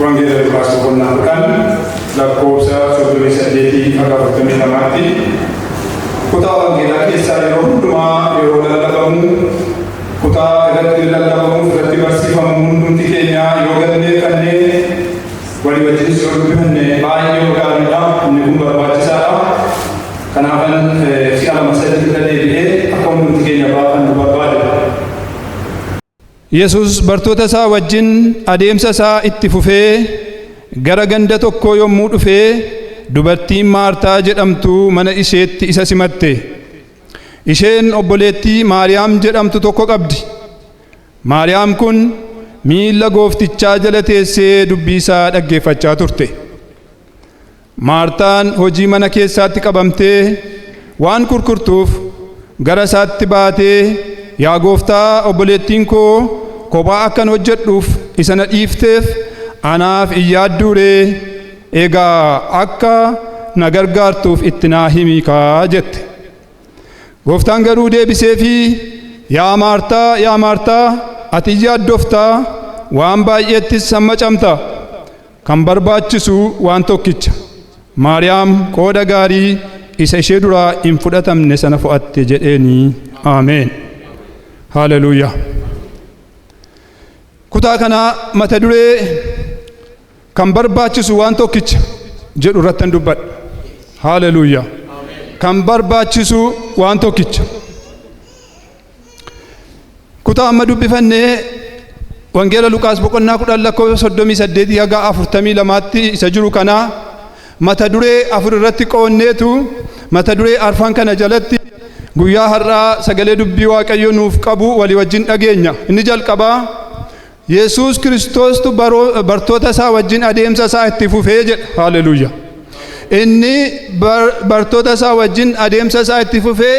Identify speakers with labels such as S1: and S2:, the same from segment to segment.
S1: Wangeela Luqaas boqonnaa kudhan lakkoofsa soddomii saddeetii hanga afurtamii lamaatti kutaa wangeelaa keessaa yeroo hundumaa yeroo lallabamu kutaa irratti lallabamuuf irratti barsiifamu hundumti keenyaa yoo galmeeffannee Walii wajjinis yoo dubbifanne baay'ee gaariidha. Inni kun barbaachisaadha. Kanaafan si'a lama sadii irra deebi'ee akka hundumti keenya baafannu barbaada. Yesus bartoota isaa wajjin adeemsa isaa itti fufee gara ganda tokkoo yommuu dhufe dubartiin Maartaa jedhamtu mana isheetti isa simatte. Isheen obboleettii Maariyaam jedhamtu tokko qabdi. Maariyaam kun miilla gooftichaa jala teessee dubbii isaa dhaggeeffachaa turte. Maartaan hojii mana keessaatti qabamtee waan kurkurtuuf gara isaatti baatee yaa gooftaa obboleettiin koo kophaa akkan hojjedhuuf isa na dhiifteef anaaf hin yaadduuree egaa akka na gargaartuuf itti naa himiikaa jette. Gooftaan garuu deebiseefii, Yaa Maartaa, yaa Maartaa, ati in yaaddofta, waan baay'eettis hammacamta. Kan barbaachisu waan tokkicha. Maariyaam qooda gaarii isa ishee duraa hin fudhatamne sana fo'atte jedheeni. Ameen. Haaleluyyaa. Kutaa kanaa mata duree Kan barbaachisu waan tokkicha jedhu irrattan dubbadha. Haaleluyyaa. Kan barbaachisu waan tokkicha. Kutaa amma dubbifannee Wangeela Luqaas boqonnaa kudhan lakkoofsa soddomii saddeetii haga afurtamii lamaatti isa jiru kanaa mata duree afur irratti qoonneetu mata duree arfan kana jalatti guyyaa har'aa sagalee dubbii waaqayyo nuuf qabu walii wajjin dhageenya. Inni jalqabaa Yesuus Kiristoostu baroo- bartoota isaa wajjin adeemsa isaa itti fufee jedha. Haaleluyyaa. Inni bar- bartoota isaa wajjin adeemsa isaa itti fufee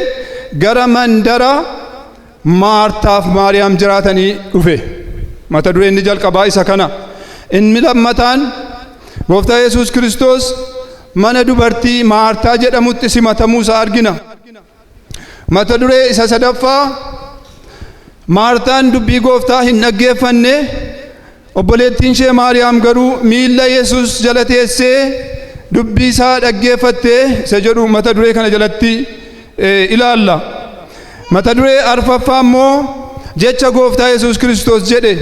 S1: gara mandara Maartaaf Maariyaam jiraatanii dhufe. Mata dureen inni jalqabaa isa kana. Inni lammataan Gooftaa Yesuus Kiristoos mana dubartii Maartaa jedhamutti simatamuu isaa argina. Mata duree isa sadaffaa Maartaan dubbii gooftaa hin dhaggeeffanne obboleettiin ishee Maariyaam garuu miilla Yesuus jala teessee dubbii isaa dhaggeeffatte isa jedhu mata duree kana jalatti eh, ilaalla. Mata duree arfaffaa immoo jecha gooftaa Yesuus Kiristoos jedhe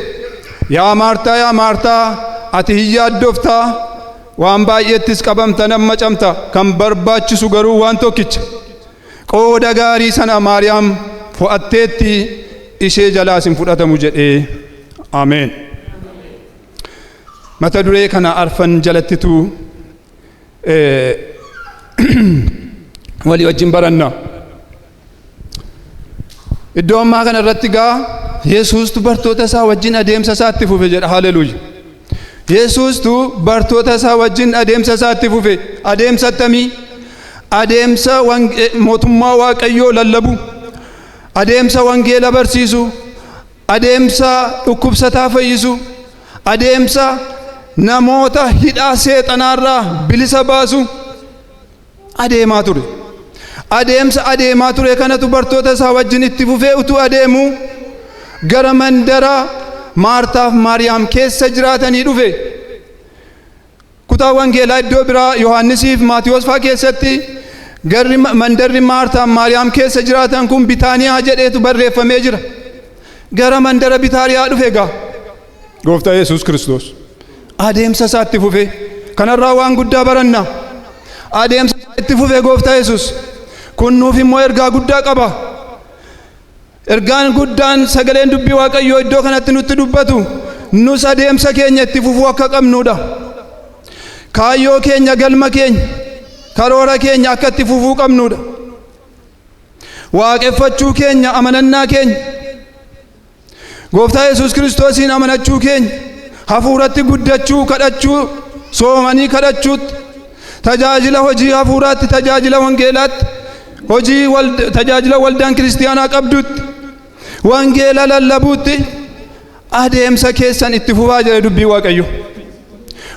S1: yaa Maartaa yaa Maartaa ati hin yaaddoftaa Waan baay'eettis qabamta nan macamta, kan barbaachisu garuu waan tokkicha. Qooda gaarii sana Maariyaam fo'atteetti, ishee jalaas hin fudhatamu jedhee. Ameen. Mata duree kana arfan jalattitu eh, walii wajjin baranna. Iddoo ammaa kana irratti gaa Yesuustu bartoota isaa wajjin adeemsa isaa itti fufe jedha. Haleluuya. Yesuustu bartoota isaa wajjin adeemsa isaa itti fufe. Adeemsa attamii? Adeemsa mootummaa Waaqayyoo lallabu. Adeemsa wangeela barsiisu. Adeemsa dhukkubsataa fayyisu. Adeemsa namoota hidhaa seexanaarraa bilisa baasu. adeemaa ture. Adeemsa adeemaa ture kanatu bartoota isaa wajjin itti fufee utuu adeemu gara mandara Maartaaf Maariyaam keessa jiraatanii dhufe. Kutaa wangeelaa iddoo biraa Yohaannisiif Maatiyoos fa'aa keessatti garri mandarri Maartaaf Maariyaam keessa jiraatan kun Bitaaniyaa jedheetu barreeffamee jira. Gara mandara Bitaaniyaa dhufe egaa. Gooftaa Yesuus Kiristoos adeemsa isaa itti fufee kanarraa waan guddaa baranna. Adeemsa isaa itti fufee Gooftaa Yesuus kun nuuf immoo ergaa guddaa qaba. Ergaan guddaan sagaleen dubbii Waaqayyoo iddoo kanatti nutti dubbatu nus adeemsa keenya itti fufuu akka qabnudha. Kaayyoo keenya galma keenya karoora keenya akka itti fufuu qabnudha. Waaqeffachuu keenya amanannaa keenya Gooftaa Yesuus Kiristoosiin amanachuu keenya hafuuratti guddachuu kadhachuu soomanii kadhachuutti tajaajila hojii hafuuraatti tajaajila wangeelaatti hojii tajaajila waldaan kiristiyaanaa qabdutti wangeela lallabuutti adeemsa keessan itti fufaa jira dubbii waaqayyo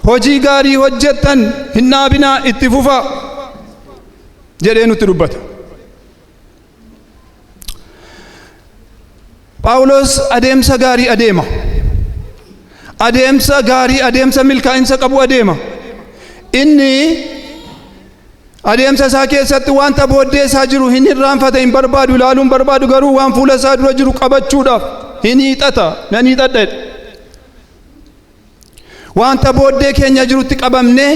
S1: hojii gaarii hojjettan hin dhaabinaa itti fufaa jedhee nutti dubbata. Phaawulos adeemsa gaarii adeema. Adeemsa gaarii, adeemsa milkaa'insa qabu adeema. Inni adeemsa isaa keessatti wanta booddee isaa jiru hin irraanfata, hin barbaadu, ilaaluu hin barbaadu garuu waan fuula isaa dura jiru qabachuudhaaf hin hiixata, nan hiixadha jedha. Wanta booddee keenya jirutti qabamnee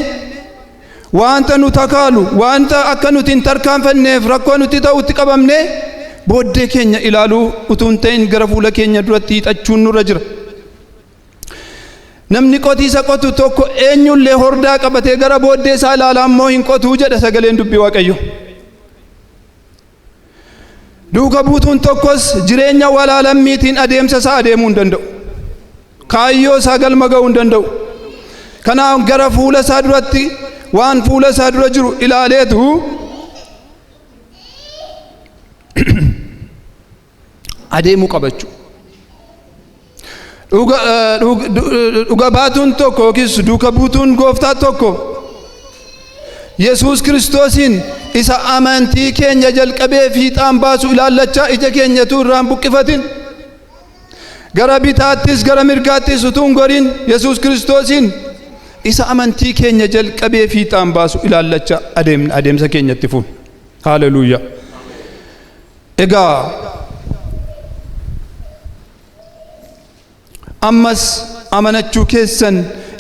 S1: wanta nu takaalu, wanta akka nuti hin tarkaanfanneef rakkoo nutti ta'utti qabamnee booddee keenya ilaaluu utuu hin ta'in gara fuula keenya duratti hiixachuun nurra jira. Namni qotiisa qotu tokko eenyullee hordaa qabatee gara booddee isaa ilaalaa immoo hin qotuu jedha sagaleen dubbii Waaqayyoo. Duuka buutuun tokkos jireenya walaa lammiitiin adeemsa isaa adeemuu hin danda'u. Kaayyoo isaa galma ga'uu hin danda'u. Kanaaf gara fuula isaa duratti waan fuula isaa dura jiru ilaaleetu adeemuu qaba jechuudha. Dhuga, eh, dhug- du- dhuga baatuun tokko yookiis duuka buutuun gooftaa tokko Yesuus Kiristoosiin isa amantii keenya jalqabee fiixaan baasu ilaallachaa ija keenyatu irraan buqqifatin. Gara bitaattis gara mirgaattis utuu hin goriin Yesuus Kiristoosiin isa amantii keenya jalqabee fiixaan baasu ilaallachaa adeemna adeemsa keenyatti fuun. Haaleluyyaa. egaa ammas amanachuu keessan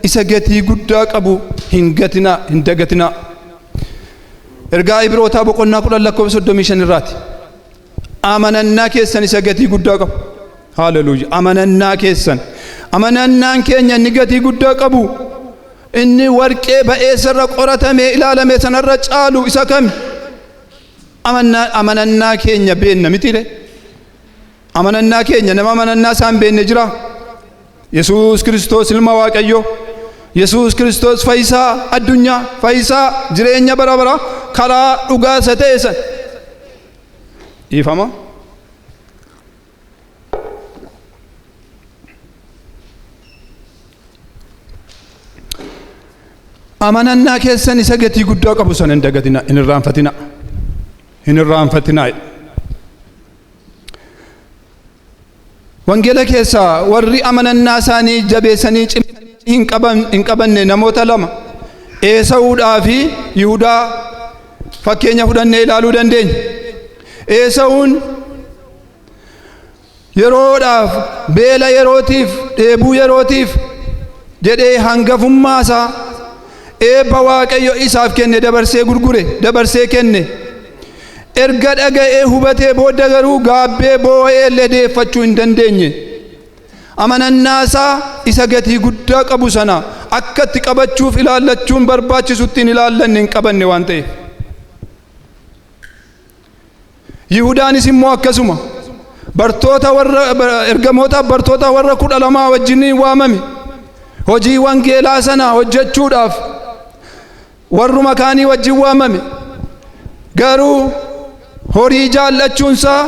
S1: isa gatii guddaa qabu hin gatinaa hin dagatinaa ergaa ibrootaa boqonnaa kudhan lakkoofsa soddomii shan irraati amanannaa keessan isa gatii guddaa qabu haaleluyya amanannaa keessan amanannaan keenya inni gatii guddaa qabu inni warqee ba'eessarra qoratamee ilaalame sanarra caalu isa kami Amannaa- amanannaa keenya beenna mitire amanannaa keenya nama amanannaa isaan beenne jira yesuus kiristoos ilma waaqayyo yesuus kiristoos fayyisaa addunyaa fayyisaa jireenya bara bara karaa dhugaa isa ta'e san dhiifama amanannaa keessan isa gatii guddaa qabu sana hin dagatina hin irraanfatina hin irraanfatina wangeela keessaa warri amanannaa isaanii jabeessanii cimsanii hin qaban hin qabanne namoota lama eesa'uudhaa fi yihudaa fakkeenya fudhannee ilaaluu dandeenya eesa'uun yeroodhaaf beela yerootiif dheebuu yerootiif jedhee hangafummaa isaa eebba waaqayyo isaaf kenne dabarsee gurgure dabarsee kenne erga dhaga'ee hubatee booda garuu gaabbee boo'ee illee deeffachuu hin dandeenye amanannaa isaa isa gatii guddaa qabu sana akka itti qabachuuf ilaallachuun barbaachisutti hin ilaallanne hin qabanne waan ta'eef Yihudaanis immoo akkasuma bartoota warra ergamootaaf bartoota warra kudha lamaa wajjiniin waamame hojii wangeelaa sana hojjechuudhaaf warruma kaanii wajjin waamame garuu horii jaallachuunsaa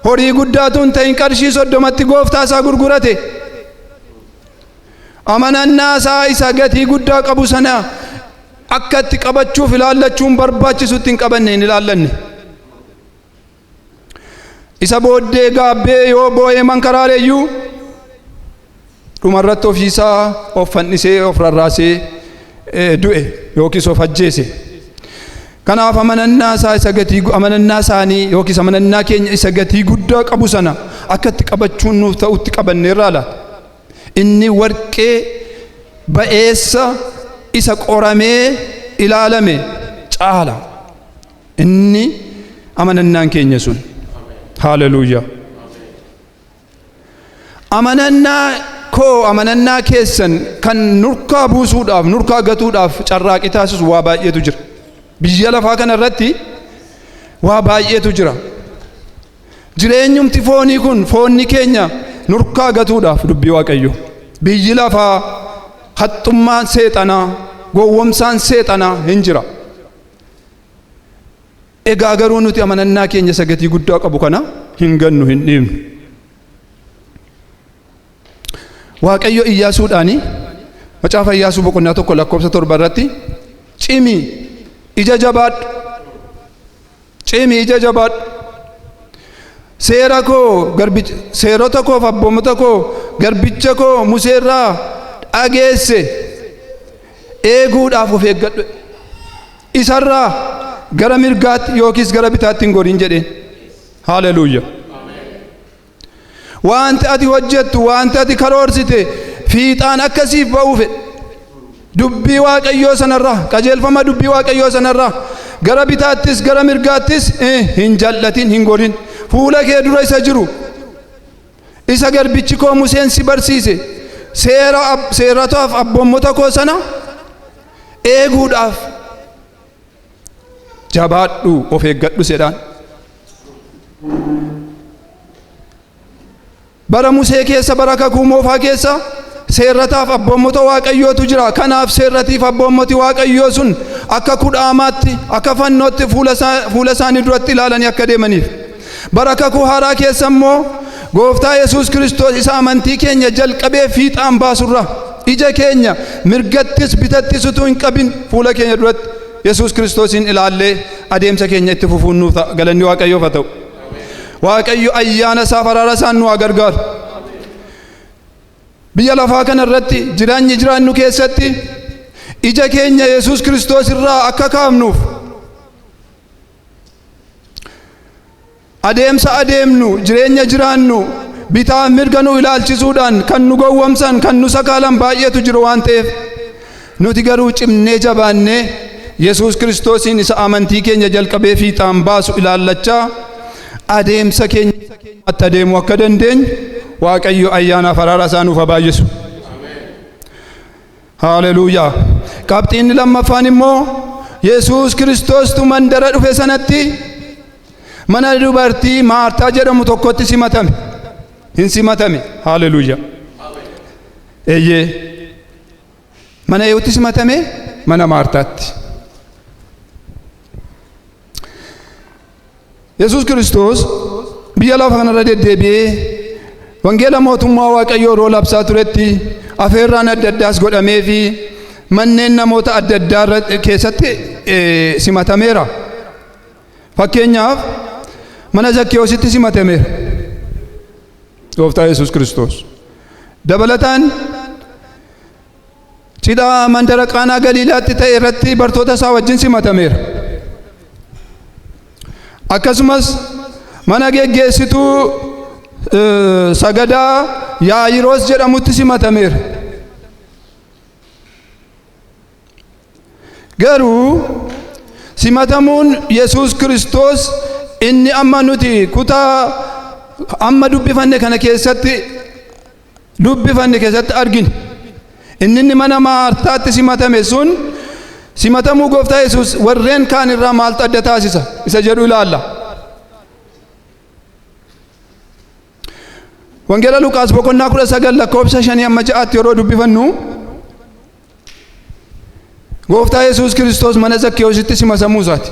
S1: horii guddaatu hin ta'in qarshii soddomatti gooftaa isaa gurgurate amanannaa isaa isa gatii guddaa qabu sana akka itti qabachuuf ilaallachuun barbaachisu itti hin qabanne hin ilaallanne. Isa booddee gaabbee yoo boo'ee mankaraareeyyuu dhumarratti ofiisaa of fannisee of rarraasee du'e yookiis of ajjeese. Kanaaf amanannaa isaa isa gatii amanannaa isaanii yookiis amanannaa keenya isa gatii guddaa qabu sana akka itti qabachuun nuuf ta'utti qabanneerraa laata? Inni warqee ba'eessa isa qoramee ilaalame caala. Inni amanannaan keenya sun. Haaleluyyaa. Amanannaa koo amanannaa keessan kan nurkaa buusuudhaaf nurkaa gatuudhaaf carraaqii taasisu waa baay'eetu jira. Biyya lafaa kana irratti waa baay'eetu jira. Jireenyumti foonii kun foonni keenya nurkaa gatuudhaaf dubbii waaqayyo. Biyyi lafaa haxxummaan seexanaa gowwomsaan seexanaa hin jira. Egaa garuu nuti amanannaa keenya isa gatii guddaa qabu kana hin gannu hin dhiibnu. Waaqayyo Iyyaasuudhaani macaafa Iyyaasuu boqonnaa tokko lakkoofsa torba irratti cimi ija jabaadhu Cimii jajabaadhu. Seera koo garbicha seerota koof abboomota koo garbicha koo Musee irraa dhageesse eeguudhaaf of eeggadhu. Isarraa gara mirgaatti yookiis gara bitaatti hin goriin jedheen. Haaleluyyaa. Wanti ati hojjettu, wanti ati karoorsite fiixaan akka siif ba'uu fedha. Dubbii Waaqayyoo sanarraa, qajeelfama dubbii Waaqayyoo sanarraa gara bitaattis gara mirgaattis eh, hin jal'atin, hin gorin. Fuula kee dura isa jiru, isa garbichi koo Museen si barsiise, seera ab- seeratotaaf abboommota koo sana eeguudhaaf jabaadhu of eeggadhu jedhaan. Bara Musee keessa bara kakuu moofaa keessa seerrataaf abboommota waaqayyootu jira. Kanaaf seerratiif abboommoti waaqayyoo sun akka kudhaamaatti akka fannootti fuula isaanii duratti ilaalanii akka deemaniif. Bara kakuu haaraa keessa immoo gooftaa Yesuus Kiristoos isa amantii keenya jalqabee fiixaan baasurra ija keenya mirgattis bitattis utuu hin qabin fuula keenya duratti Yesuus Kiristoosiin ilaallee adeemsa keenya itti fufuun nuuf ta'a. Galanni Waaqayyoof haa ta'u. Waaqayyo ayyaana isaa faraara isaan nu haa gargaaru. Biyya lafaa kana irratti jiraanyi jiraannu keessatti ija keenya Yesuus Kiristoos irraa akka kaafnuuf Adeemsa adeemnu, jireenya jiraannu, bitaaf mirga nu ilaalchisuudhaan kan nu gowwomsan, kan nu sakaalan baay'eetu jiru waan ta'eef nuti garuu cimnee jabaannee Yesuus Kiristoosiin isa amantii keenya jalqabee fiixaan baasu ilaallachaa adeemsa keenya itti adeemuu akka dandeenyu Waaqayyo ayyaanaaf araara isaa nuuf haa baay'isu. Haaleluuyaa! Qabxiin lammaffaan immoo Yesuus Kiristoostu mandara dhufe sanatti mana dubartii Maartaa jedhamu tokkotti simatame. Hin simatame. Haaleluuyaa! Eeyyee. Mana eewutti simatame mana Maartaatti. Yesuus Kiristoos biyya lafa kanarra deddeebi'ee wangeela mootummaa Waaqayyoo yeroo labsaa turetti afeerraan adda addaas godhamee fi manneen namoota adda addaa irra- keessatti eh, simatameera. Fakkeenyaaf mana Zakkiyoositti simatameera. Gooftaa Yesuus Kiristoos. Dabalataan Cidha mandara Qaanaa Galiilaatti ta'e irratti bartoota isaa wajjin simatameera. Akkasumas mana geggeessituu eh, sagadaa Yaayiroos jedhamutti simatameera. Garuu simatamuun Yesuus Kiristoos inni amma nuti kutaa amma dubbifanne kana keessatti dubbifanne keessatti arginu. Inni inni mana Maartaatti simatame sun simatamuu gooftaa Yesuus warreen kaan irraa maaltu adda taasisa isa jedhu ilaalla. Wangeela Luqaas boqonnaa kudha sagal lakkoofsa shanii amma ja'aatti yeroo dubbifannu Gooftaa Yesuus Kiristoos mana Zakkeewositti simasamuu isaati.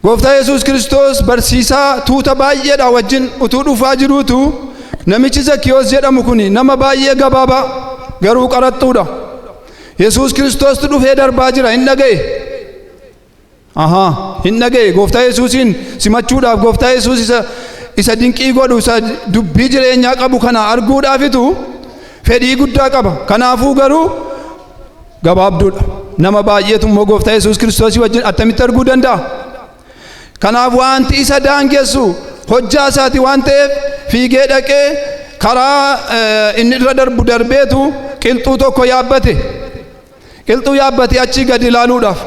S1: Gooftaa Yesuus Kiristoos barsiisaa tuuta baay'eedhaa wajjin utuu dhufaa jiruutu namichi Zakkeewos jedhamu kun nama baay'ee gabaabaa garuu qaraxxuudha. Yesuus Kiristoostu dhufee darbaa jira hin dhaga'e. Ahaa, hin dhaga'e gooftaa Yesuusiin simachuudhaaf gooftaa Yesuus isa isa dinqii godhu isa dubbii jireenyaa qabu kana arguudhaafitu fedhii guddaa qaba. Kanaafuu garuu gabaabduudha. Nama baay'eetu immoo gooftaa Yesuus Kiristoosii wajjin attamitti arguu danda'a? Kanaaf wanti isa daangessu hojjaa isaati waan ta'eef fiigee dhaqee karaa inni irra darbu darbeetu qilxuu tokko yaabbate. qilxuu yaabbatee achii gadi ilaaluudhaaf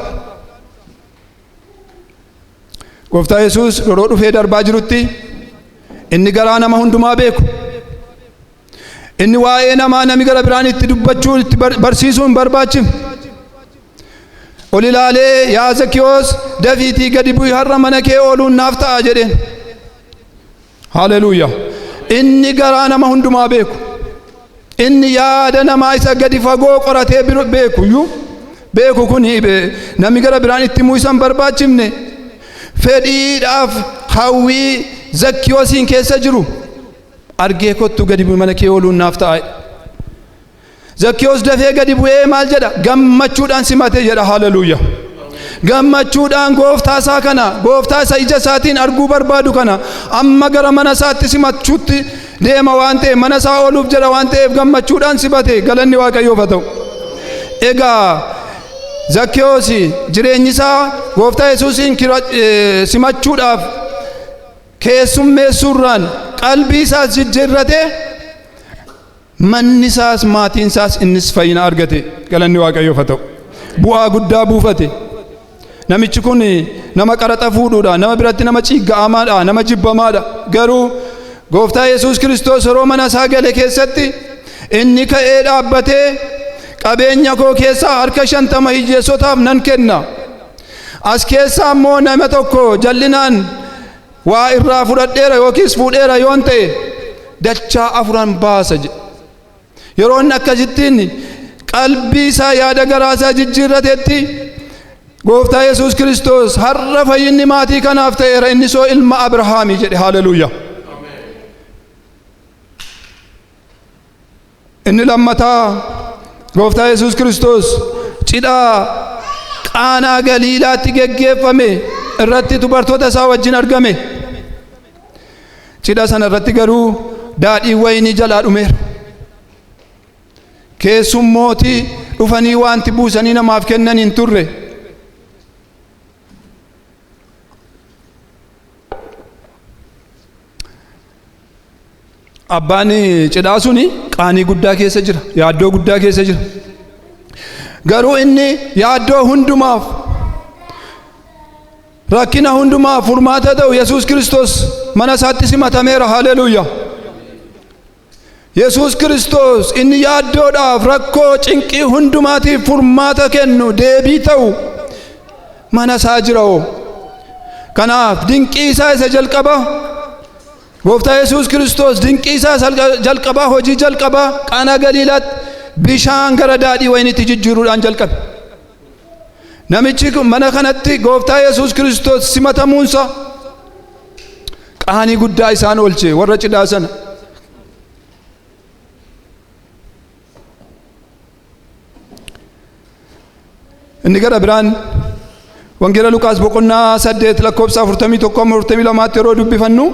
S1: gooftaa yesuus yeroo dhufee darbaa jirutti inni garaa nama hundumaa beeku inni waa'ee namaa nami gara biraan itti dubbachuu itti barsiisuu hin barbaachifne ol ilaalee yaa zakiyoos dafiitii gadi bu'i har'a mana kee ooluun naaf ta'a jedheen Haleluuyaa! Inni garaa nama hundumaa beeku. Inni yaada namaa isa gadi fagoo qoratee bir- beeku iyyuu beeku kun be- namni gara biraan itti himuu isa hin barbaachifne fedhiidhaaf hawwii zakkiyoosiin keessa jiru argee kottu gadi bu'i mana kee ooluun naaf ta'a. Zakkiyoos dafee gadi bu'ee maal jedha? Gammachuudhaan simate jedha. Haleluuya. Gammachuudhaan gooftaa isaa kana, gooftaa isa ija isaatiin arguu barbaadu kana amma gara mana isaatti simachuutti deema waan ta'eef mana isaa ooluuf jedha waan ta'eef gammachuudhaan simate galanni waaqayyoof haa ta'u. Egaa Zakkiyoos jireenyi isaa gooftaa Yesuusiin simachuudhaaf keessummeessuurraan qalbii isaas jijjiirrate Manni isaas maatiin isaas innis fayyina argate. Galanni Waaqayyoof haa ta'u. Bu'aa guddaa buufate. Namichi kun nama qaraxa fuudhuudha. Nama biratti nama ciigga'amaadha. Nama jibbamaadha. Garuu gooftaa Yesuus Kiristoos yeroo mana isaa gale keessatti inni ka'ee dhaabbatee qabeenya koo keessaa harka shantama hiyyeessotaaf nan kenna. As keessaa immoo nama tokko jal'inaan waa irraa fudhadheera yookiis fuudheera yoon ta'e dachaa afuran baasa jedhe yeroo inni akkasittiin qalbii isaa yaada garaa isaa jijjiirratetti gooftaa yesus kiristoos har'a fayyinni maatii kanaaf ta'eera inni soo ilma abrahaamii jedhe haleluuyaa Inni lammataa gooftaa Yesuus Kiristoos cidhaa qaanaa galiilaatti geggeeffame irratti dubartoota isaa wajjin argame. Cidha sana irratti garuu daadhiin wayinii jalaa dhumeera. Keessummooti dhufanii wanti buusanii namaaf kennan hin turre. Abbaan cidhaa suni qaanii guddaa keessa jira. Yaaddoo guddaa keessa jira. Garuu inni yaaddoo hundumaaf rakkina hundumaaf furmaata ta'u Yesuus Kiristoos mana isaatti simatameera. Haleluuyaa! Yesuus Kiristoos inni yaaddoodhaaf rakkoo cinqii hundumaatiif furmaata kennu deebii ta'u mana isaa jira hoo. Kanaaf dinqii isaa isa jalqabaa Gooftaa Yesuus Kiristoos dinqii isaa isa jalqabaa hojii jalqabaa qaanaa galiilaatti bishaan gara daadhii wayiniitti jijjiiruudhaan jalqabe. Namichi kun mana kanatti Gooftaa Yesuus Kiristoos simatamuunsa Qaanii guddaa isaan oolche warra cidhaa sana. Inni gara biraan wangeela Luqaas boqonnaa saddeet lakkoofsa afurtamii tokko amma afurtamii lamaatti yeroo dubbifannu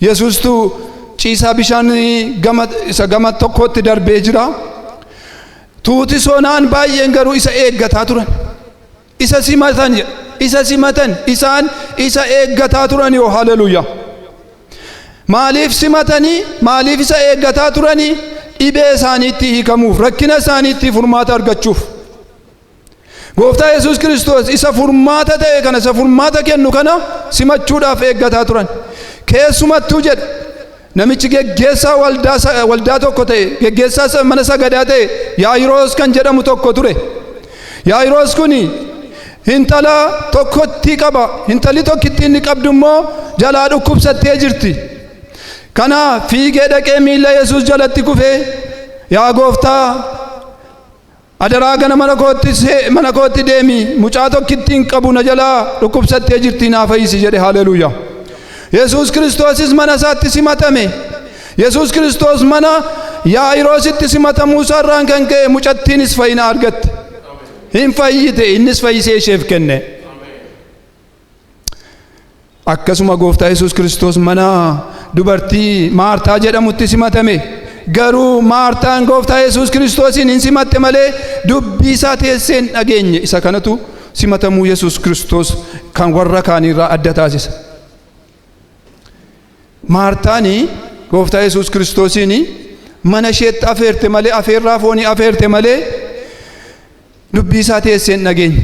S1: Yesuustu ciisaa bishaan gama isa gama tokkootti darbee jira. Tuuti soonaan baay'een garuu isa eeggataa turan. Isa simatan jedha. Isa simatan isaan isa eeggataa turanii oo haleluyaa. Maaliif simatanii maaliif isa eeggataa turanii dhibee isaaniitti hiikamuuf rakkina isaaniitti furmaata argachuuf. Gooftaa Yesuus Kiristoos isa furmaata ta'e kana isa furmaata kennu kana simachuudhaaf eeggataa turan. Keessumattuu jedha Namichi geggeessaa waldaa, waldaa tokko ta'e, geggeessaa mana sagadaa ta'e Yaayiroos kan jedhamu tokko ture. Yaayiroos kun intala tokkotti qaba. Intalli tokkittiin inni qabdu immoo jalaa dhukkubsattee jirti. Kana fiigee dhaqee miila Yesuus jalatti kufee yaa gooftaa Adaraa gana mana kootti see, mana kootti deemi, mucaa tokkittiin qabu na jalaa dhukkubsattee jirti naa fayyisi jedhe haleluuyaa. Yesuus Kiristoosis mana isaatti simatame. Yesuus Kiristoos mana Yaa'iroositti simatamuu isaarraan kan ka'e mucattiinis fayyina argatte. Hin fayyite innis fayyisee isheef kenne. Akkasuma gooftaa Yesuus Kiristoos mana dubartii Maartaa jedhamutti simatame. Garuu Maartaan gooftaa Yesuus Kiristoosiin hin simatte malee dubbii isaa teessee hin dhageenye. Isa kanatu simatamuu Yesuus Kiristoos kan warra kaaniirraa adda taasisa. Maartaan gooftaa Yesuus Kiristoosiin mana isheetti afeerte malee afeerraa foonii afeerte malee dubbii isaa teessee hin dhageenye.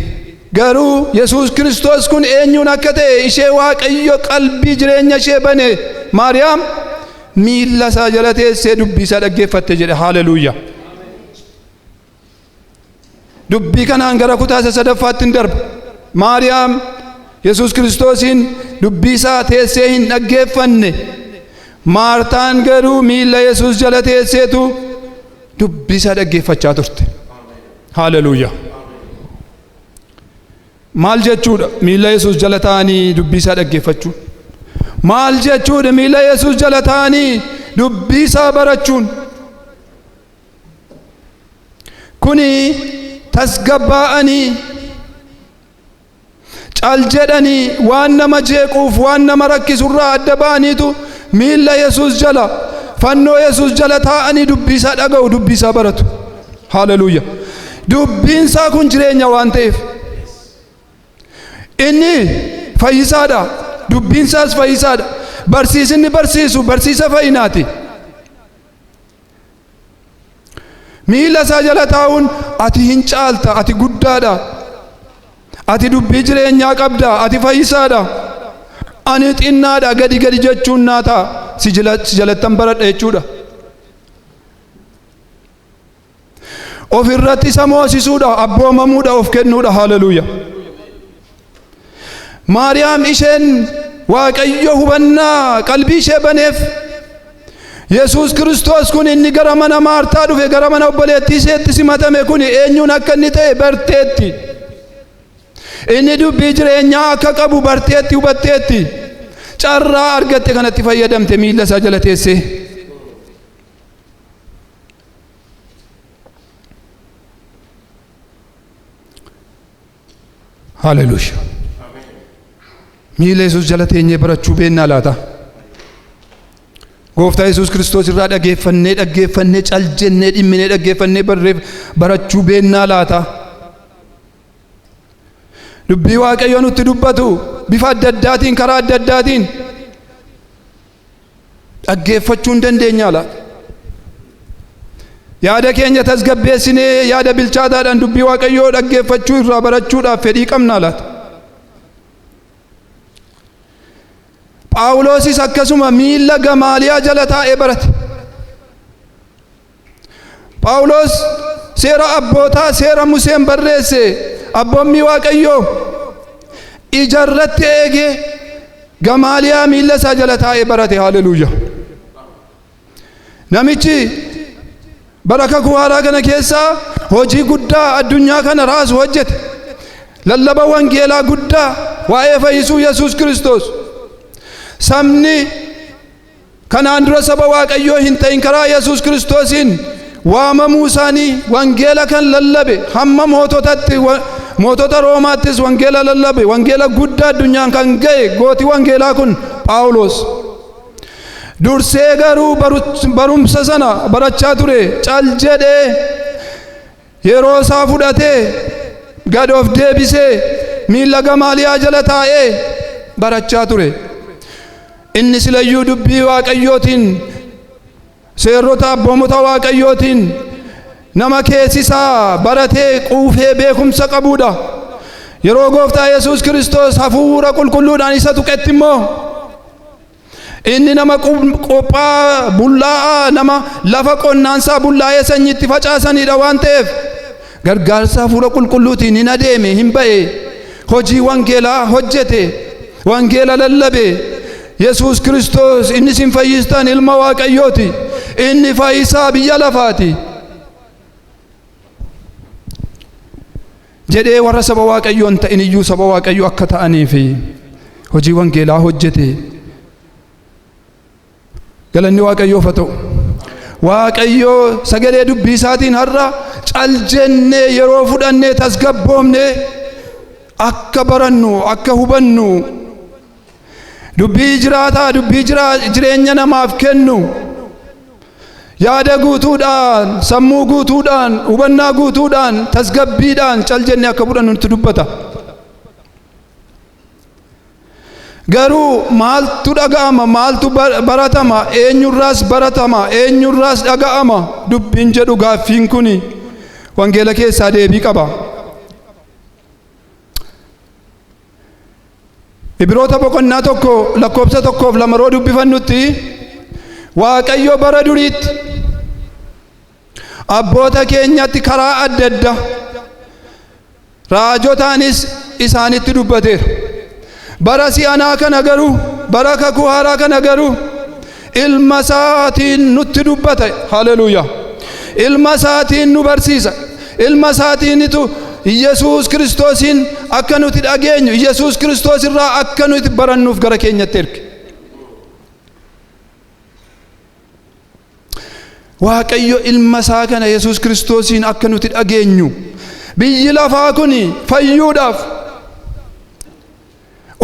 S1: Garuu Yesuus Kiristoos kun eenyuun akka ta'e ishee Waaqayyo qalbii jireenya ishee bane Maariyaam miilla isaa jala teessee dubbii isaa dhaggeeffatte jedhe haaleluuyaa. Dubbii kanaan gara kutaa isa sadaffaatti hin darba. Maariyaam Yesuus Kiristoosiin dubbii isaa teessee hin dhaggeeffanne. Maartaan garuu miilla Yesuus jala teesseetu dubbii isaa dhaggeeffachaa turte. Haaleluuyaa. Maal jechuudha miila Yesuus jala taa'anii dubbii isaa dhaggeeffachuu? Maal jechuudha miila Yesuus jala taa'anii dubbii isaa barachuun? Kuni tasgabbaa'anii Cal jedhanii waan nama jeequuf waan nama rakkisurraa adda ba'aniitu miilla Yesuus jala fannoo Yesuus jala taa'anii dubbiisaa dhaga'u dubbiisaa baratu. Haleluuya. Dubbiinsaa kun jireenya waan ta'eef. Inni fayyisaadha. Dubbiinsaas fayyisaadha. Barsiisinni barsiisu barsiisa fayyinaati. miila isaa jala taa'uun ati hin caalta ati guddaadha ati dubbii jireenyaa qabda ati fayyisaadha ani xinnaadha gadi gadi jechuun naa ta'a si jala- si jalattan baradha jechuudha of irratti isa moosisuudha abboomamuudha of kennuudha haleluuya Maariyaam isheen Waaqayyo hubannaa qalbii ishee baneef Yesuus Kiristoos kun inni gara mana Maartaa dhufe gara mana obboleettii isheetti simatame kun eenyuun akka inni ta'e barteetti. Inni dubbii jireenyaa akka qabu barteetti hubatteetti. Carraa argatte kanatti fayyadamte miilla isaa jala teessee. Haleluya. Miila Yesuus jala teenyee barachuu beennaa laata? Gooftaa Yesuus Kiristoos irraa dhageeffannee dhaggeeffannee cal jennee dhimminee dhaggeeffannee barreef barachuu beennaa laata? Dubbii Waaqayyoo nutti dubbatu bifa adda addaatiin karaa adda addaatiin dhaggeeffachuu hin dandeenyaa laata? Yaada keenya tasgabbeessinee yaada bilchaataadhaan dubbii Waaqayyoo dhaggeeffachuu irraa barachuudhaaf fedhii qabnaa laata? Phaawulosis akkasuma miilla Gamaaliyaa jala taa'ee barate. Phaawulos seera abbootaa seera Museen barreesse abboommii Waaqayyoo ija irratti eegee gamaaliyaa miilla isaa jala taa'ee barate haleluuya. Namichi bara kakuu haaraa kana keessaa hojii guddaa addunyaa kana raasu hojjete. Lallaba wangeelaa guddaa waa'ee fayyisuu Yesuus Kiristoos. Sabni Kanaan dura saba Waaqayyoo hin ta'in karaa Yesuus Kiristoosiin waamamuu isaanii wangeela kan lallabe hamma moototatti wa- mootota Roomaattis wangeela lallabe wangeela guddaa addunyaan kan ga'e gooti wangeelaa kun Phaawulos. Dursee garuu baru- barumsa sana barachaa ture cal jedhee Yeroo isaa fudhatee gad of deebisee miilla Gamaaliyaa jala taa'ee barachaa ture. Inni silayyuu dubbii Waaqayyootiin, seerota abboomota Waaqayyootiin nama keessi isaa baratee quufee beekumsa qabuudha. Yeroo gooftaa Yesuus Kiristoos hafuura qulqulluudhaan isa tuqetti immoo Inni nama qophaa'aa, bullaa'aa, nama lafa qonnaansaa bullaa'ee sanyii itti facaasanidha waan ta'eef gargaarsa hafuura qulqulluutiin hin adeeme, hin ba'e, hojii wangeelaa hojjete, wangeela lallabe. Yesuus Kiristoos inni isin fayyistan ilma Waaqayyooti. Inni fayyisaa biyya lafaati. jedhee warra saba Waaqayyoo hin ta'in iyyuu saba Waaqayyoo akka ta'anii fi hojii wangeelaa hojjete. Galanni Waaqayyoof haa ta'u. Waaqayyoo sagalee dubbii isaatiin har'a cal jennee yeroo fudhannee tasgabboomnee akka barannu akka hubannu Dubbii jiraataa dubbii jireenya namaaf kennu yaada guutuudhaan sammuu guutuudhaan hubannaa guutuudhaan tasgabbiidhaan cal jennee akka fudhannu nutti dubbata. Garuu maaltu dhaga'ama maaltu baratama eenyurraas baratama eenyurraas dhaga'ama dubbiin jedhu gaaffiin kun wangeela keessaa deebii qaba. Ibiroota boqonnaa tokko lakkoofsa tokkoof lama yeroo dubbifannutti Waaqayyo bara duriitti abboota keenyatti karaa adda addaa raajotaanis isaanitti dubbateera. Bara si'anaa kana garuu bara kakuu haaraa kana garuu Ilma isaatiin nutti dubbata. Haleluuyaa. Ilma isaatiin nu barsiisa. Ilma isaatiinitu Yesuus Kiristoosiin akka nuti dhageenyu, Yesuus Kiristoos irraa akka nuti barannuuf gara keenyatti erge. Waaqayyo ilma isaa kana Yesuus Kiristoosiin akka nuti dhageenyu biyyi lafaa kun fayyuudhaaf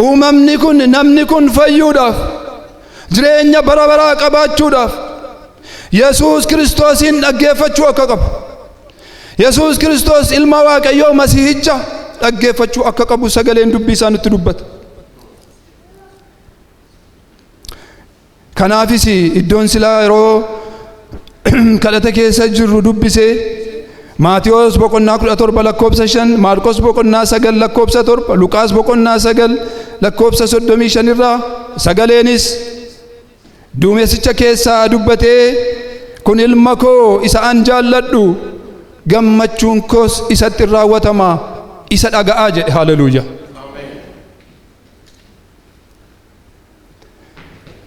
S1: uumamni kun namni kun fayyuudhaaf jireenya bara baraa qabaachuudhaaf Yesuus Kiristoosiin dhaggeeffachuu akka qabu Yesuus Kiristoos ilma Waaqayyoo masihicha dhaggeeffachuu akka qabu sagaleen dubbii isaa nutti dubbata. Kanaafis iddoon silaa yeroo kadhata keessa jirru dubbise Maatiyoos boqonnaa 17 lakkoofsa 5, Maarqos boqonnaa 9 lakkoofsa 7, Luqaas boqonnaa 9 lakkoofsa 35 irraa sagaleenis duumessicha keessaa dubbatee kun ilma koo isa an jaalladhu gammachuun koos isatti in raawwatama isa dhaga'aa jedhe haleluuyaa.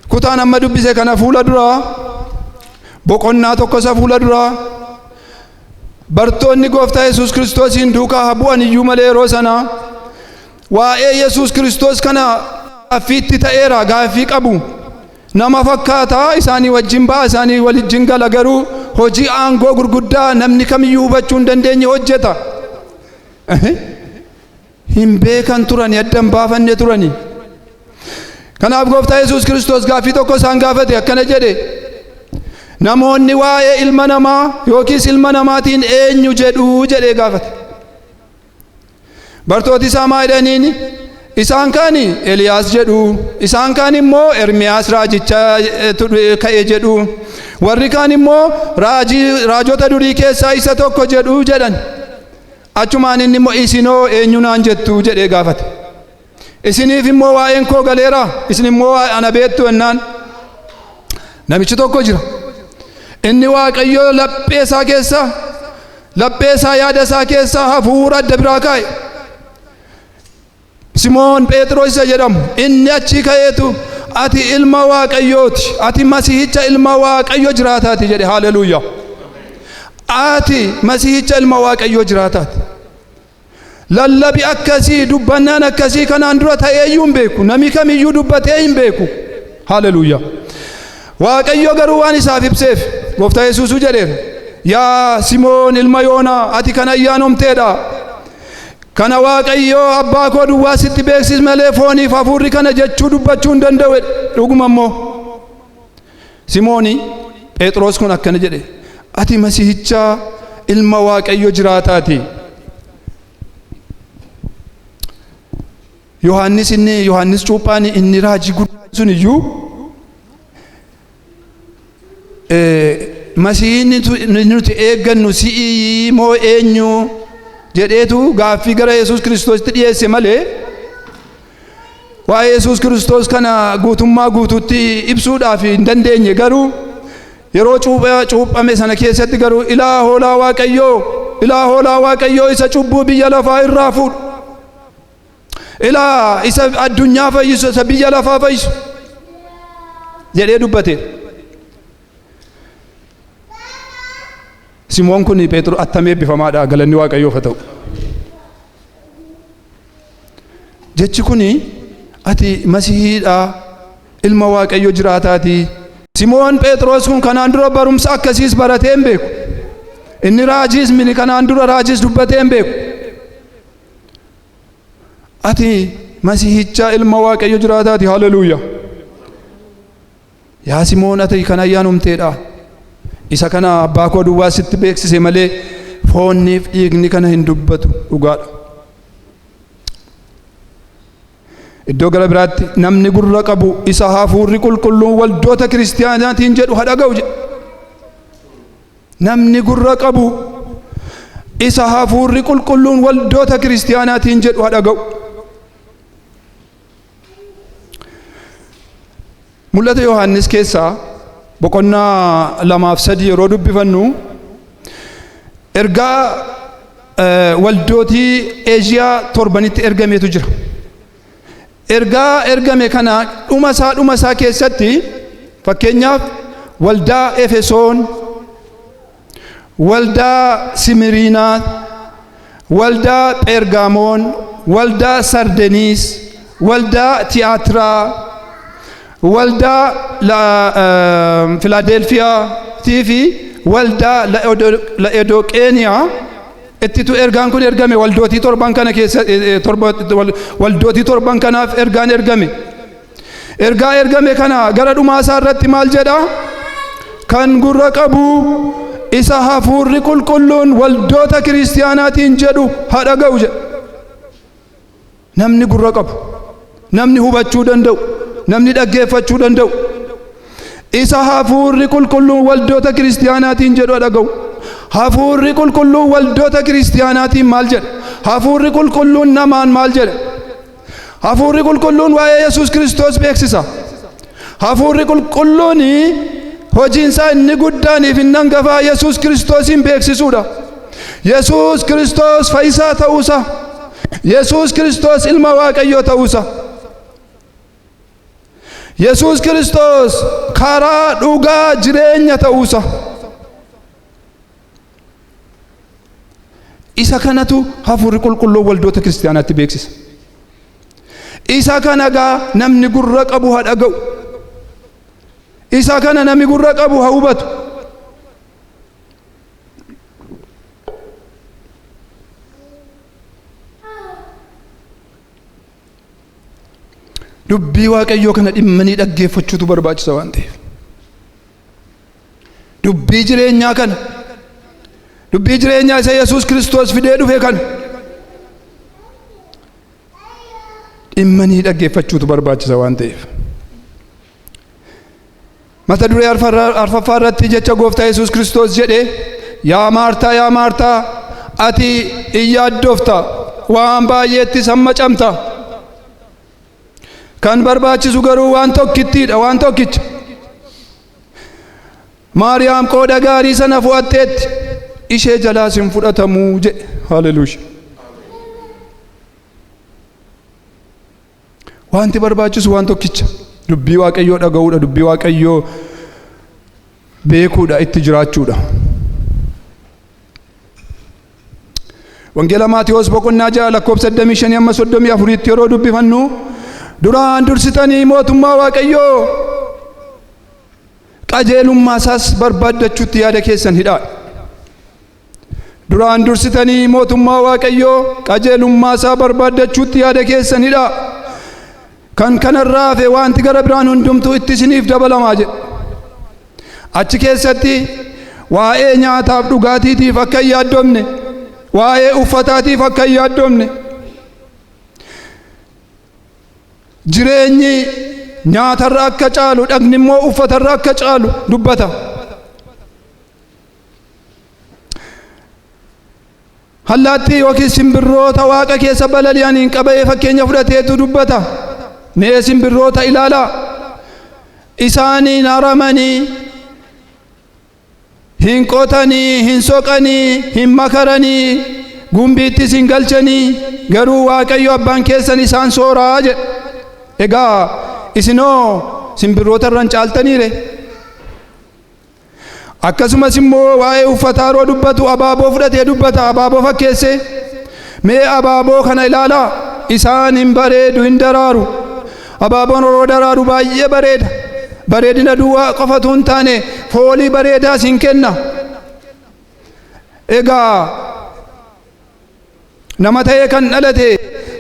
S1: Kutaan amma dubbise kana fuula duraa boqonnaa tokko isa fuula duraa bartoonni gooftaa Yesuus Kiristoosiin duukaa haa bu'an iyyuu malee yeroo sana waa'ee Yesuus Kiristoos kana gaaffiitti ta'eera gaaffii qabu. Nama fakkaata isaanii wajjin ba'a isaanii wajjin gala garuu hojii aangoo gurguddaa namni kamiyyuu hubachuu hin dandeenye hojjeta. hin beekan turani adda hin baafanne turani kanaaf gooftaa yesuus kiristoos gaaffii tokko isaan gaafate akkana jedhe namoonni waa'ee ilma namaa yookiis ilma namaatiin eenyu jedhuu jedhee gaafate bartooti isaa maa jedhaniin isaan kaan eliyaas jedhu isaan kaan immoo ermiyaas raajicha ka'e jedhu warri kaan immoo raajota durii keessaa isa tokko jedhu jedhan Achumaan inni immoo isin hoo eenyu naan jettu jedhee gaafate. Isiniif immoo waa'een koo galeera isin immoo waa'ee ana beektu ennaan namichi tokko jira. Inni waaqayyoo laphee isaa keessa laphee isaa yaada isaa keessa hafuura adda biraa kaa'e. Simoon Pheexiroos isa jedhamu, inni achii ka'eetu, Ati ilma Waaqayyooti, ati Masihicha ilma Waaqayyo jiraataati jedhe. Haaleluuyaa! Ati Masihicha ilma Waaqayyo jiraataati. Lallabi akkasii, dubbannaan akkasii kanaan dura ta'ee iyyuu hin beeku. Nami kamiyyuu dubbatee hin beeku. Haaleluuyaa! Waaqayyo garuu waan isaaf ibseef, Gooftaa Yesuusuu jedheera. Yaa Simoon ilma Yoonaa, ati kan ayyaanomteedha. Kana Waaqayyo abbaa koo duwwaa sitti beeksise malee fooniif hafuurri kana jechuu dubbachuu hin danda'u jedhe. Dhuguma immoo Simooni Phexros kun akkana jedhe, Ati Masihicha ilma Waaqayyo jiraataati. Yohaannis inni Yohaannis cuuphaan inni raajii guddaan sun iyyuu masihiin nuti eeggannu si'ii moo eenyu jedheetu gaaffii gara Yesuus Kiristoositti dhiyeesse malee waa'ee Yesuus Kiristoos kana guutummaa guutuutti ibsuudhaaf hin dandeenye garuu yeroo cuuphame sana keessatti garuu ilaa hoolaa waaqayyoo ilaa hoolaa waaqayyoo isa cubbuu biyya lafaa irraa fuudhu Ilaa isa addunyaa fayyisu isa biyya lafaa fayyisu jedhee dubbate. Simoon kun Pheexroos attam eebbifamaadha galanni Waaqayyoof haa ta'u. Jechi kun ati masihiidha ilma Waaqayyo jiraataati. Simoon Pheexroos kun kanaan dura barumsa akkasiis baratee hin beeku. Inni raajiis mini kanaan dura raajiis dubbatee hin beeku. Ati Masihichaa ilma Waaqayyo jiraataati. Haleluuyaa! Yaa Simoon ati kan ayyaanumteedha. Isa kana abbaa koo duwwaa sitti beeksise malee foonniif dhiigni kana hin dubbatu dhugaadha. Iddoo gara biraatti namni gurra qabu isa hafuurri qulqulluun waldoota kiristiyaanaatiin jedhu ha dhaga'u jedha. Namni gurra qabu isa hafuurri qulqulluun waldoota kiristiyaanaatiin jedhu haa dhaga'u. Mul'ata Yohaannis keessaa boqonnaa lamaaf sadii yeroo dubbifannu ergaa waldootii Eeshiyaa torbanitti ergameetu jira. Ergaa ergame kana dhuma isaa dhuma isaa keessatti fakkeenyaaf waldaa Efesoon, waldaa Simiriinaa, waldaa Pheergaamoon, waldaa Sardeniis, waldaa Tiyaatiraa, waldaa Filaadelfiyaa fi waldaa La'edoqeeniyaa Ittitu ergaan kun ergame waldootii torban kana keessa waldootii torban kanaaf ergaan ergame. Ergaa ergame kana gara dhumaa isaa irratti maal jedha? Kan gurra qabu isa hafuurri qulqulluun waldoota kiristiyaanaatiin jedhu haa dhaga'u jedha. Namni gurra qabu, namni hubachuu danda'u, namni dhaggeeffachuu danda'u, isa hafuurri qulqulluun waldoota kiristiyaanaatiin jedhu dhaga'u. Hafuurri qulqulluun waldoota kiristiyaanaatiin maal jedha? Hafuurri qulqulluun namaan maal jedha? Hafuurri qulqulluun waa'ee Yesuus Kiristoos beeksisa. Hafuurri qulqulluun hojiinsaa inni guddaaniif inni hangafaa Yesuus Kiristoosiin beeksisuudha. Yesuus Kiristoos fayyisaa ta'uusaa. Yesuus Kiristoos ilma Waaqayyoo ta'uusaa. Yesuus Kiristoos karaa dhugaa jireenya ta'uusaa. Isa kanatu hafuurri qulqulluun waldoota kiristaanaatti beeksisa. Isa kana gaa namni gurra qabu haa dhaga'u. Isa kana namni gurra qabu haa hubatu. Dubbii waaqayyoo kana dhimmanii dhaggeeffachuutu barbaachisa waan ta'eef. dubbii jireenyaa kana dubbii jireenyaa isa yesus kiristoos fidee dhufe kana dhimmanii dhaggeeffachuutu barbaachisa waan ta'eef mata duree arfaffaa irratti jecha gooftaa yesus kiristoos jedhe yaa maartaa yaa maartaa ati in yaaddofta waan baay'eetti sammacamta kan barbaachisu garuu waan tokkittiidha waan tokkicha maariyaam qooda gaarii sana fo'atteetti ishee jalaas hin fudhatamuu jedhe haleluuya wanti barbaachisu waan tokkicha dubbii waaqayyoo dhaga'uudha dubbii waaqayyoo beekuudha itti jiraachuudha Wangeela Maatewos boqonnaa 6 lakkoofsa 25 amma 34tti yeroo dubbifannu duraan dursitanii mootummaa Waaqayyoo qajeelummaa isaas barbaaddachuutti yaada keessan hidhaa. Duraan dursitanii mootummaa Waaqayyoo qajeelummaa isaa barbaaddachuutti yaada keessan hidhaa. Kan kanarraa hafe wanti gara biraan hundumtuu itti isiniif dabalama jedhe. Achi keessatti waa'ee nyaataaf dhugaatiitiif akka hin yaaddomne, waa'ee uffataatiif akka hin yaaddomne, jireenyi nyaatarra akka caalu dhagni immoo uffatarra akka caalu dubbata. Allaattii yookiis simbirroota waaqa keessa balali'aniin qaba'ee fakkeenya fudhateetu dubbata. Mee simbirroota ilaalaa. Isaaniin haramanii hin qotanii, hin soqanii, hin makaranii, gumbiittis hin galchanii, garuu Waaqayyo abbaan keessan isaan sooraa jedhe. Egaa isinoo simbirroota irra hin caaltaniire. Akkasumas immoo waa'ee uffataa yeroo dubbatu abaaboo fudhatee dubbata, abaaboo fakkeessee. Mee abaaboo kana ilaalaa, isaan hin bareedu, hin daraaru. Abaaboon yeroo daraaru baay'ee bareeda. Bareedina duwwaa qofatu hin taane foolii bareedaas hin kenna. Egaa Nama ta'ee kan dhalate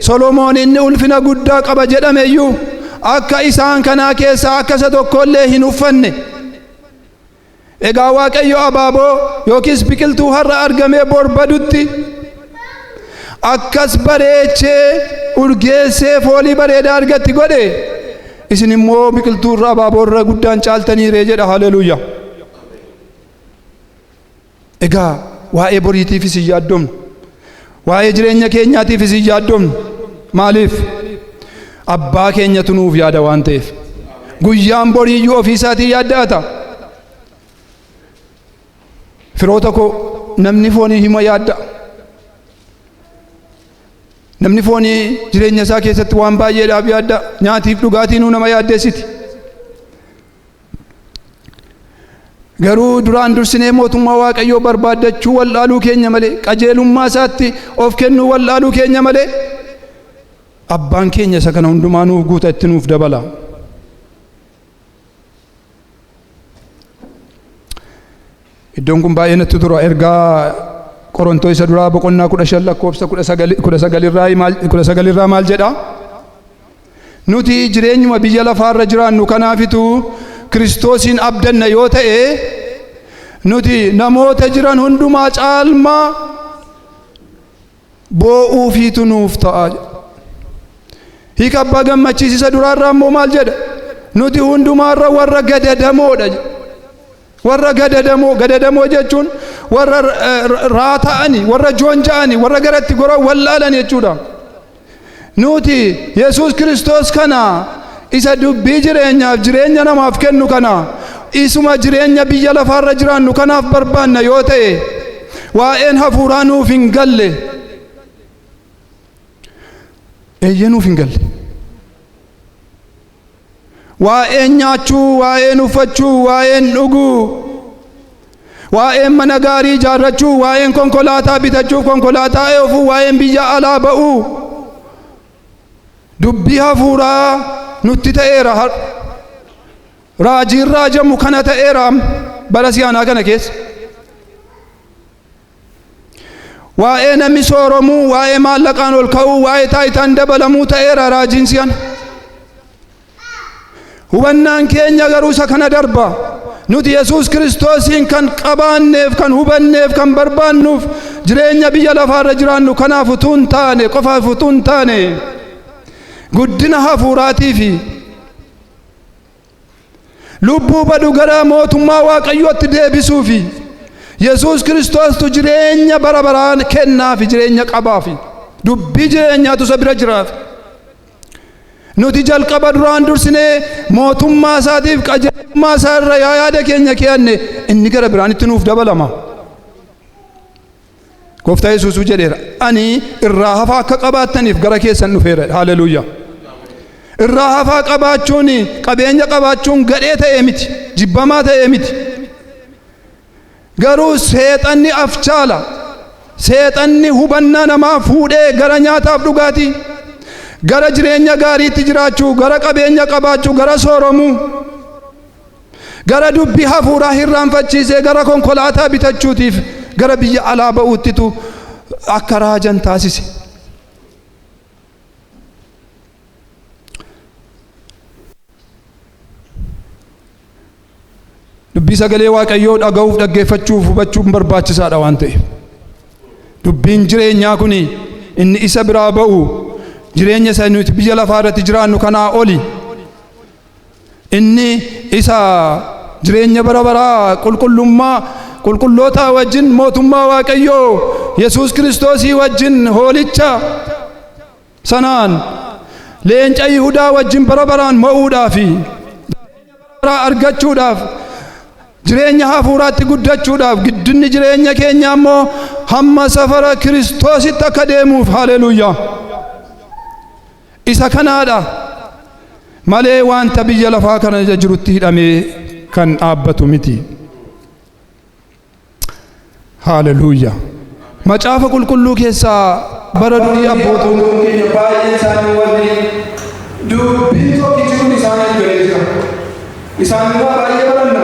S1: Solomoon inni ulfina guddaa qaba jedhame iyyuu akka isaan kanaa keessaa akka isa tokko illee hin uffanne. Egaa Waaqayyo abaaboo yookiis biqiltuu har'a argamee bor badutti akkas bareechee urgeessee foolii bareedaa argatti godhe isin immoo biqiltuu irra abaaboo irra guddaan caaltaniiree jedha haleluuyaa. Egaa waa'ee boriitiifis hin yaaddomnu. Waa'ee jireenya keenyaatiifis hin yaaddomnu. Maaliif? Abbaa keenyatu nuuf yaada waan ta'eef. Guyyaan boriiyyuu ofii isaatii yaadda'ata. Firoota koo namni foonii hima yaadda'a. Namni foonii jireenya isaa keessatti waan baay'eedhaaf yaadda'a. Nyaatiif dhugaatii nuu nama yaaddeessiti. Garuu duraan dursinee mootummaa Waaqayyoo barbaaddachuu wal'aaluu keenya malee qajeelummaa isaatti of kennuu wal'aaluu keenya malee abbaan keenya isa kana hundumaa nuuf guuta itti nuuf dabala. Iddoon kun baay'ee natti tura ergaa Qorontoo isa duraa boqonnaa kudha shan lakkoofsa kudha sagali- kudha sagalirraa maal- kudha sagalirraa maal jedha? Nuti jireenyuma biyya lafaarra jiraannu kanaafitu Kiristoosiin abdanna yoo ta'e nuti namoota jiran hundumaa caalmaa boo'uufiitu nuuf ta'a jedha. Hiika abbaa gammachiisisa duraarraa immoo maal jedha? Nuti hundumaarra warra gadadamoodha jedha. Warra gadadamoo, gadadamoo jechuun warra raata'ani, warra joonja'ani, warra garatti goran wallaalan jechuudha. Nuti Yesuus Kiristoos kana isa dubbii jireenyaaf jireenya namaaf kennu kana isuma jireenya biyya lafaarra jiraannu kanaaf barbaanna yoo ta'e waa'een hafuuraa nuuf hin galle. Eeyyee nuuf hin galle. Waa'een nyaachuu, waa'een uffachuu, waa'een dhuguu, waa'een mana gaarii ijaarrachuu, waa'een konkolaataa bitachuuf konkolaataa eofuu, waa'een biyya alaa ba'uu dubbii hafuuraa nutti ta'eera har'a. Raajiin raajamu kana ta'eera bara si'anaa kana keessa. Waa'ee namni sooromuu, waa'ee maallaqaan ol ka'uu, waa'ee taayitaan dabalamuu ta'eera raajiin si'an. Hubannaan keenya garuu isa kana darba. Nuti Yesuus Kiristoosiin kan qabaanneef, kan hubanneef, kan barbaannuuf jireenya biyya lafaarra jiraannu kanaaf utuu hin taane, qofaaf utuu hin taane guddina hafuuraatii fi Lubbuu badu gara mootummaa Waaqayyootti deebisuu fi Yesuus Kiristoostu jireenya bara baraan kennaa fi jireenya qabaa fi dubbii jireenyaatu isa bira jiraaf. Nuti jalqaba duraan dursinee mootummaa isaatiif qajeelummaa isaa irra yaa yaada keenya keeyanne inni gara biraan itti nuuf dabalama. Gooftaa Yesuusuu jedheera. Ani irraa hafaa akka qabaattaniif gara keessan dhufeera. Haleluuyaa. Irraa hafaa qabaachuun qabeenya qabaachuun gadhee ta'ee miti. Jibbamaa ta'ee miti. Garuu seexanni afchaala. Seexanni hubannaa namaa fuudhee gara nyaataaf dhugaatii, gara jireenya gaariitti jiraachuu, gara qabeenya qabaachuu, gara sooromuu. Gara dubbii hafuuraa hirraanfachiisee gara konkolaataa bitachuutiif gara biyya alaa ba'uuttitu akka raajan taasise. Dubbii sagalee Waaqayyoo dhaga'uuf dhaggeeffachuuf hubachuun barbaachisaadha waan ta'eef. Dubbiin jireenyaa kun inni isa biraa ba'u jireenya isa nuti biyya lafaa irratti jiraannu kanaa oli Inni isa jireenya bara baraa qulqullummaa qulqullootaa wajjin mootummaa Waaqayyoo Yesuus Kiristoosii wajjin hoolicha sanaan leenca Yihudaa wajjin bara baraan mo'uudhaa fi baraa argachuudhaaf jireenya hafuuraatti guddachuudhaaf giddinni jireenya keenya immoo hamma safara Kiristoositti akka deemuuf haleluuyaa. Isa kanaadha malee wanta biyya lafaa kana irra jirutti hidhamee kan dhaabbatu miti. Haaleluuya! Macaafa qulqulluu keessaa bara durii abbootiin keenya baay'een isaanii wanni dubbiin tokkichi kun isaaniif galee jira. Isaan irraa baay'ee baranna.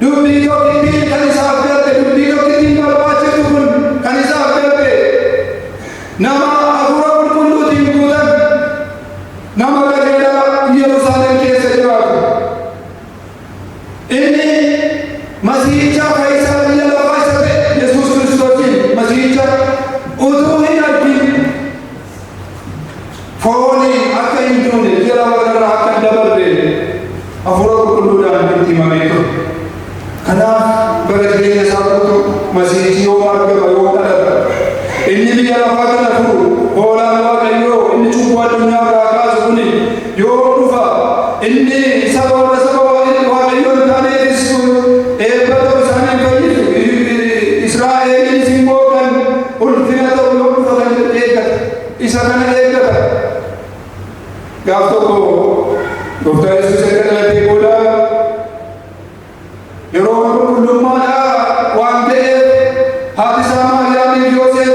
S1: Dubbii tokkittiin kan isaaf galte, dubbii tokkittiin barbaachiftu kun kan isaaf galte, nama hafuura qulqulluutiin guutame, nama qajeelaa Yerusaalem keessa jiraatu. Inni Masiihicha kan isa biyya lafaa isa ta'e Yesuus Kiristoosiin Masiihicha utuu hin argin Fooniin akka hin duune biyya lafa kanarraa akka hin dabarre hafuura qulqulluudhaan itti himamee ture. Kanaaf bara jireenya isaa guutuu masiihichi yoo argama yoo dhalata inni biyya lafaa kana furu hoolaan waaqayyoo inni cubbuu addunyaa irraa kaasu kuni yoo dhufa inni saba warra saba waaqayyo waaqayyoo hin taane eebbisu eebba ta'u isaanii hin fayyisu Israa'eliinis immoo kan Ulfina ta'u yoo dhufa kan jedhu eeggata. Isa kana eeggata. Gaaf tokko Gooftaan Yesuus erga dhalatee booda yeroo mana qulqullummaadhaa waan ta'eef haati isaa Maariyaamiif Yooseef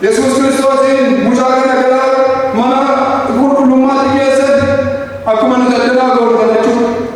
S1: Yesuus Kiristoosiin mucaa kana gara mana qulqullummaatti geessan akkuma nu daldalaa goonu jechuudha.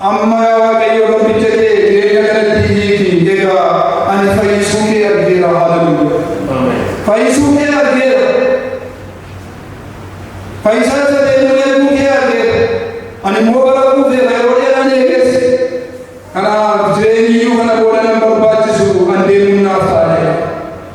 S1: Amma yaa Waaqayyo garbicha kee jireenya kanatti hiiki, egaa ani fayyisuu kee argeera. Haaleluyyaa! Fayyisuu kee argeera. Fayyisaa isa ta'e immoo eeguu kee argeera. Ani immoo bara quufeera yeroo dheeraan eeges. Kanaaf jireenyi iyyuu kana booda nan barbaachisu an deemuun naaf taa'eera.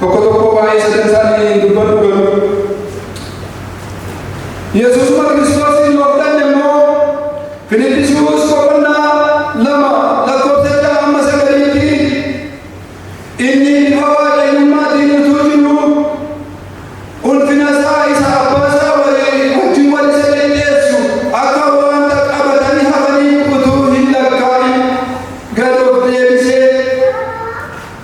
S1: Tokko tokko waa'ee sadan isaanii hin dubbatu garuu Yesuusuma Kiristoosiin yoo fudhanne immoo Filiphisiyoos boqonnaa lama lakkoofsa ja'a hamma sagaliitti inni bifa waaqayyummaatiin utuu jiru ulfina isaa isa abbaa isaa walii wajjin wal isa qindeessu akka wanta qabatanii hafanii utuu hin lakkaa'in gad of deebisee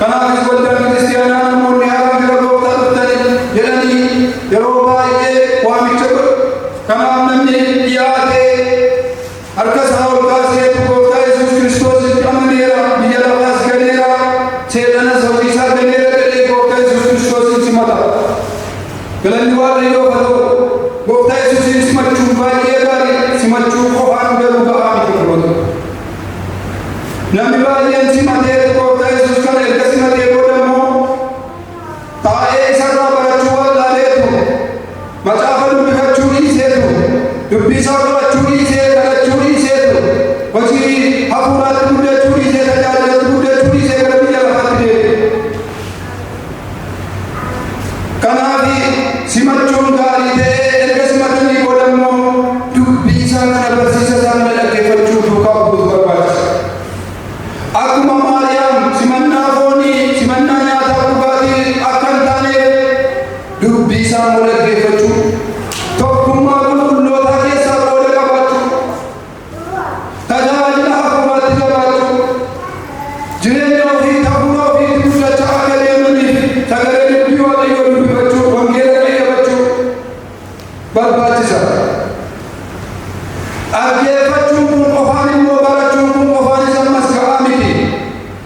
S1: Kanaafis waldaan kiristiyaanaa namoonni haaraa gara gooftaa dhuftanii jedhanii yeroo baay'ee waamicha godhu. Kanaaf namni dhiyaatee harka isaa ol kaasee utuu gooftaa Yesuus Kiristoositti amaneera, biyya lafaas ganeera, seexanas hojii isaa ganeera jedhee gooftaa Yesuus Kiristoosiin simata. Galanni Waaqayyoof haa ta'u. Gooftaa Yesuusiin simachuun baay'ee gaarii, simachuu qofaan garuu ga'aa miti. Namni baay'een simatee gooftaa Yesuus kana erga simatee booda immoo taa'ee isarraa barachuu wallaaleetu macaafa dubbifachuu dhiiseetu dubbii isaa qorachuu dhiisee kadhachuu dhiiseetu hojii hafuuraatti guddachuu dhiisee tajaajilatti guddachuu dhiisee gara biyya lafaatti deebi'e. Kanaafi simachuun gaarii ta'ee erga simatanii booda immoo dubbii isaa kana barsiisa isaa kana dhaggeeffachuu duukaa bu'uutu barbaachisa. Akkuma Maariyaam simannaa foonii, simannaa nyaataa dhugaatii akka hin taaneef dubbii isaa immoo dhaggeeffachuu, tokkummaa qulqullootaa keessaa qooda qabaachuu, Tajaajila hafuuraatti jabaachuu, jireenya ofii hafuura ofiitti guddachaa akka deemanii fi sagalee dubbii Waaqayyoo dubbifachuu, wangeela qayyabachuu barbaachisa. Dhaggeeffachuun kun qofaan immoo barachuun kun qofaanis ammas ga'aa miti.